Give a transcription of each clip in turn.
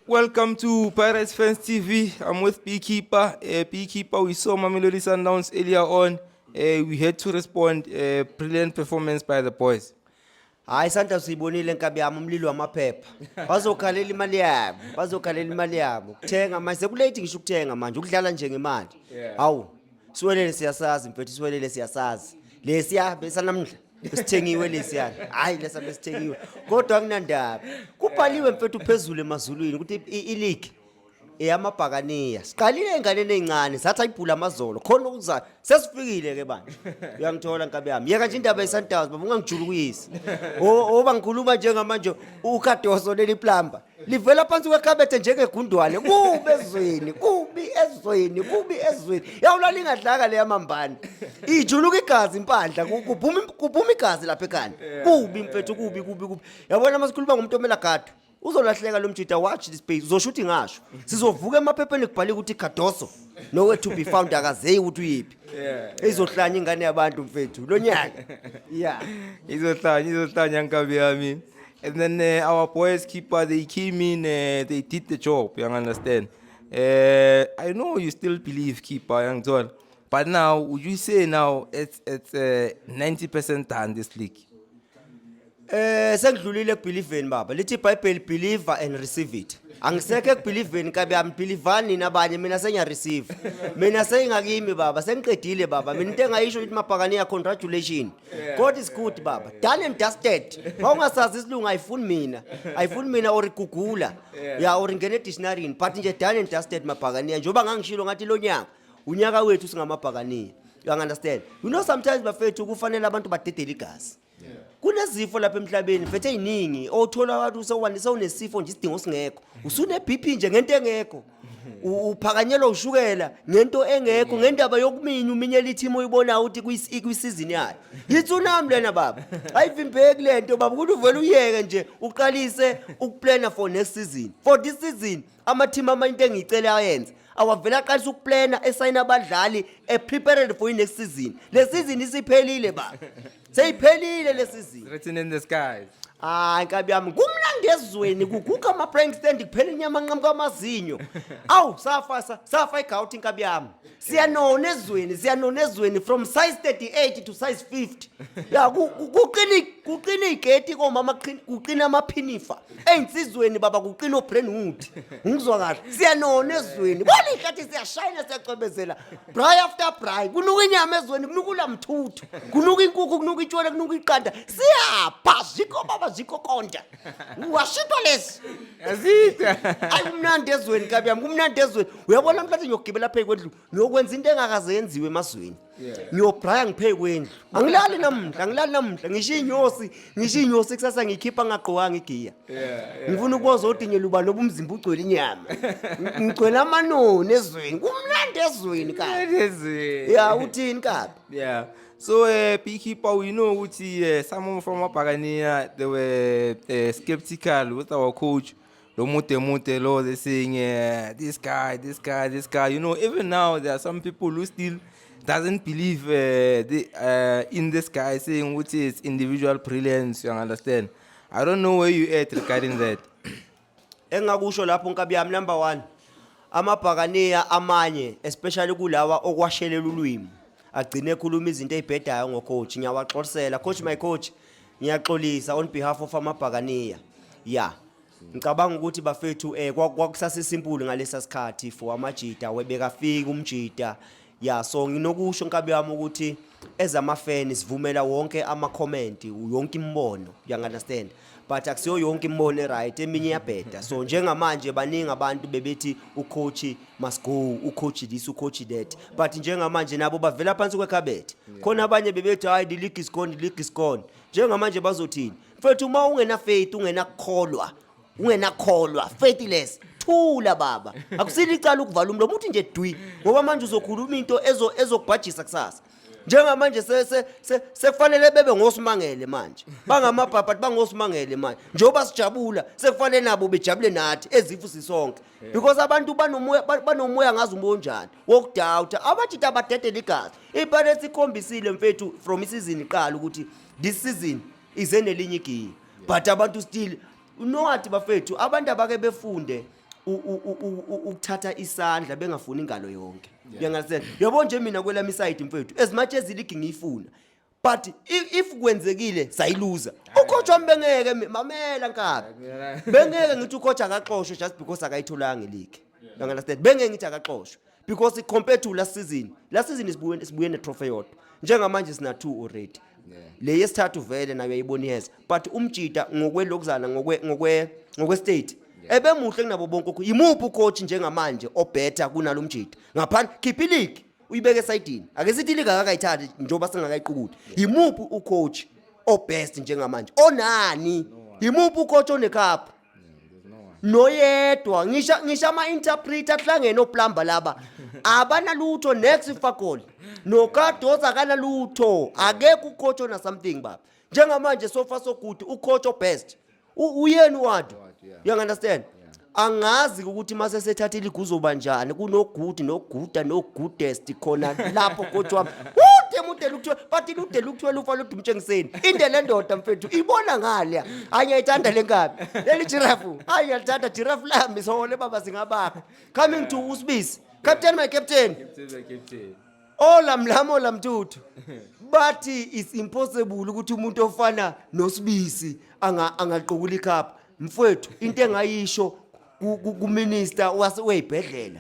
Welcome to Pirates Fans TV. I'm with Beekeeper. Uh, Beekeeper, we saw Mamelodi Sundowns earlier on. Uh, we had to respond. Uh, brilliant performance by the boys. hayi sandla siyibonile nkabi yami umlilo wamaphepha bazokhalela imali yabo bazokhalela imali yabo kuthenga manje sekulate ngisho ukuthenga manje ukudlala nje ngemali hawu siwelele siyasazi mfethu siwelele siyasazi lesiya besanamndla Besithengiwe lesiyana. Hayi lesa besithengiwe. Kodwa akunandaba. Kubhaliwe mfethu phezulu emazulwini ukuthi i- i league eyamabhakaniya. Siqalile enganeni ezincane, sathi ayibhula amazolo. Khona okuzayo. Sesifikile ke bani. Uyangithola nkabi yami. Yeka nje indaba yeSundowns, baba ungangijulukisi. O oba ngikhuluma njengamanje uKadoso leli plumber. livela phansi kwekhabethe njengegundwane kubi ezweni kubi ezweni kubi ezweni yawula lingadlaka leya mambane ijuluka igazi impandla ku- kuphuma im- kuphuma igazi lapha ekhanda kubi mfethu kubi kubi kubi yabona uma sikhuluma ngomuntu omela gadu uzolahleka lo mjita watch this page uzosho ukuthi ngasho sizovuka emaphepheni kubhalike ukuthi cardoso nowe to be found akazeyi ukuthi uyiphi izohlanya ingane yabantu mfethu lo nyaka ya izohlanya izohlanya nkabi yami And then uh, our boys keeper, they came in, uh, they did the job, you understand. Uh, I know you still believe keeper, young John, but now would you say now it's it's uh, 90% done this league? Eh sekudlulile kubelieveni baba. Lithi iBhayibheli believe and receive it. Angisekho ekubelieveni kabe ambilivani nabanye mina sengiya receive. Mina sengakimi baba, sengiqedile baba. Mina into engayisho ukuthi mabhakani ya congratulations. God is good baba. Done and dusted. Mawungasazi isilungu ayifuni mina. Ayifuni mina or igugula. Ya or ngene dictionary but nje done and dusted mabhakaniya. Njoba ngangishilo ngathi lo nyaka unyaka wethu singamabhakaniya. You understand? You know sometimes bafethu kufanele abantu badedele igazi. kunezifo lapha emhlabeni mfethu eziningi othola wathi usewandisa unesifo nje isidingo singekho usune BP nje ngento engekho U- uphakanyelwa ushukela ngento engekho ngendaba yokuminya uminyela ithimu oyibonayo ukuthi kuyis- ikwisizini yayo yitsunami lena baba ayivimbeki le nto baba ukuthi uvele uyeke nje uqalise ukuplana for next season for this season amathimu amanye into engiyicele ayenze awavele aqalisa ukuplana esayina abadlali eprepared for i-next season le season isiphelile baba Seyiphelile lesizini. Written in the skies. Hayi nkabi yami kumnandi ezweni kuguga ama prank stand kuphela inyama nqamuka amazinyo. Awu safa sa- safa igouti nkabi yami. Siyanona ezweni siyanona ezweni from size 38 to size 50. Ya ku- ku- kuqini kuqini igate komama kuqini- kuqina amaphinifa. ey'nsizweni baba kuqina obrandwood ngikuzwa kahle siyanona ezweni bona ihlathi siyashayina siyacwebezela bry after bry kunuka inyama ezweni kunuka ulamthuthu kunuka inkukhu kunuka itshwele kunuka iqanda siyapha zikho baba zikho konta washitwa lesi yazitha ayi kumnandi ezweni kabi yami kumnandi ezweni uyabona mhlathi ngiyogibela phezu kwendlu ngiyokwenza into engakaze yenziwe emazweni ngiyobraya ngiphe kwendlu angilali namhla angilali namhla ngisho inyosi ngisho inyosi kusasa ngikhipha ngagqokanga igiya ngifuna ukubonza odinye luba loba umzimba ugcwele inyama ngigcwele amanoni ezweni kumnandi ezweni kabi ya uthini kabi yeah so uh, eh, beekeeper we know ukuthi uh, eh, some of our pagania they were uh, skeptical with our coach lo mude mude lo they saying uh, this guy this guy this guy you know even now there are some people who still doesn't believe uh, the, uh, in this guy saying which is individual brilliance you understand i don't know where you at regarding that engakusho lapho nkabi yami number 1 amabhakaniya amanye especially kulawa okwashelela ulwimi agcine ekhuluma izinto ezibhedayo ngocoach ngiyawaxolisela coach my coach ngiyaxolisa on behalf of amabhakaniya ya ngicabanga ukuthi bafethu eh kwa- kwakusasesimpulu ngalesa sikhathi for amajita webekafika umjita ya so nginokusho nkabi yami ukuthi ezamafeni sivumela wonke ama-comment yonke imibono uyangi-understand but akusiyo yonke imibono e-right eminye iyabheda so njengamanje baningi abantu bebethi ucoachi must go ucoach this ucoach that but njengamanje nabo bavela phansi kwekhabethe khona abanye bebethi hayi the league is gone the league is gone njengamanje bazothini mfethu uma ungena faith ungena kukholwa ungena kholwa faithless thula baba akusile icala ukuvala umlomo uthi nje dwi ngoba manje uzokhuluma into ezo ezokubhajisa kusasa njengamanje se- se- se- sekufanele bebe ngosimangele manje bangamabhabhathi bangosimangele manje njengoba sijabula sekufanele nabo bejabule nathi ezifu sisonke because abantu banomoya ba- banomoya ngazi umoya onjani wokudawutha abajita abadedela igazi ipirates ikhombisile mfethu from isizini iqala ukuthi this season ize nelinye igiya but abantu still unowati bafethu abantu abake befunde u- u- u- u- u- ukuthatha isandla bengafuni ingalo yonke uyangasenza yabo nje mina kwelami side mfethu as much as iligi ngiyifuna but i- if kwenzekile sayiluza ucoach wami bengeke mi- mamela nkabi bengeke ngithi ucoach akaxoshwe just because akayitholanga iligi uyangasenza bengeke ngithi akaxoshwe because compared to last season last season isibuye sibuye netrophy yodwa njengamanje sina two already le yesithathu vele nayo yayibona iheza but umjita ngokwelokuzana ngokwe ngokwe ngokwe state ebemuhle kunabo bonke ukho yimuphi ucoach njengamanje obetter kunalo mjita ngaphandle khipha iligi uyibeke esayidini ake sithi iligi akakayithathi njengoba singakayiqukuli yimuphi ucoach obest njengamanje onani yimuphi ucoach onecup noyedwa ngisho ngisho ama interpreter hlangene oplumber laba abanalutho next fakoli nokadoza akanalutho akekho ucoach ona something baba njengamanje sofa so good ucoach obest uyeni wadu you understand angazi ukuthi mase sethatha iliguzoba njani kunogudi noguda nogudest khona lapho coach wami ude mude lukuthiwa but lude lukuthiwa lufa ludumtshengiseni inde lendoda mfethu ibona ngale hayi ngiyayithanda le nkabi leli jirafu hayi ngiyalithanda jirafu lami sohole baba zingabakho coming to usibisi captain my captain ola mlamo la mtuthu bathi it's impossible ukuthi umuntu ofana nosibisi anga angaqokula ikhapha mfwethu into engayisho ku- ku- kuminister wase weyibhedlela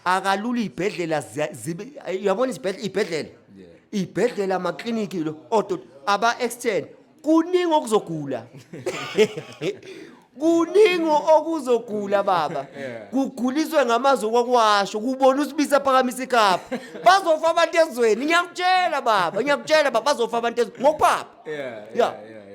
akalula ibhedlela ziya- zibe yabona isibhedlela ibhedlela ibhedlela amakliniki lo odo aba extend kuningi okuzogula kuningi okuzogula baba kuguliswe ngamazwi okwakwasho kubona usibisa phakamisa ikapa bazofa abantu ezweni ngiyakutshela baba ngiyakutshela baba bazofa abantu ezweni ngokupapa Yeah, Yeah. yeah, yeah,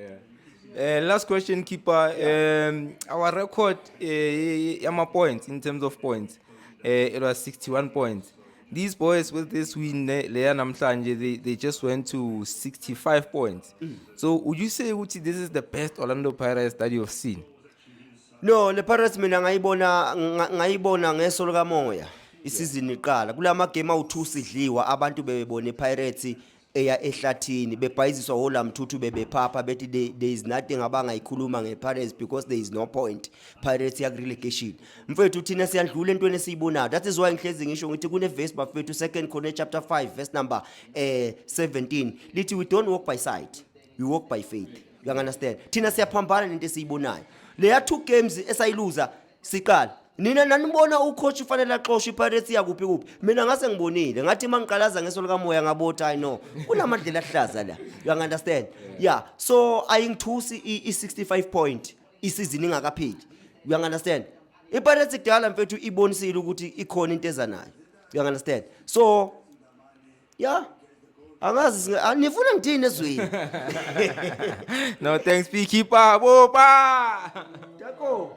yeah. Uh, last question, keeper. Um, our record, uh, yeah, my points in terms of points, uh, it was 61 points. these boys with this win leya namhlanje they, they just went to 65 points mm. so would you say ukuthi this is the best orlando pirates that you have seen no le pirates mina ngayibona ngayibona ngeso likamoya isizini iqala kulama game awu2 sidliwa abantu bebebona ipirates eya ehlathini bebhayiziswa wola mthuthu bebephapha bethi there, there is nothing abangayikhuluma nge-pirates because there is no point pirates yakurelegation mfethu thina siyadlula entweni esiyibonayo that is why ngihlezi ngisho ngithi kunevesi bafethu second corner chapter 5 verse number eh, 17 lithi we don't walk by sight we walk by faith you understand thina siyaphambana nento esiyibonayo leya two games esayiluza Siqala nina nanibona ucoach ufanele axoshwe iPirates yakuphi kuphi mina ngase ngibonile ngathi mangiqalaza ngeso likamoya ngabotha i know kunamadlela ahlaza la you understand yeah so ayingithusi i65 point isizini ingakapheli you understand iPirates kudala mfethu ibonisile ukuthi ikhona into eza nayo you understand so ya angazi singa- ah, nifuna ngithini ezweni no thanks p keep up oh, opa Tako.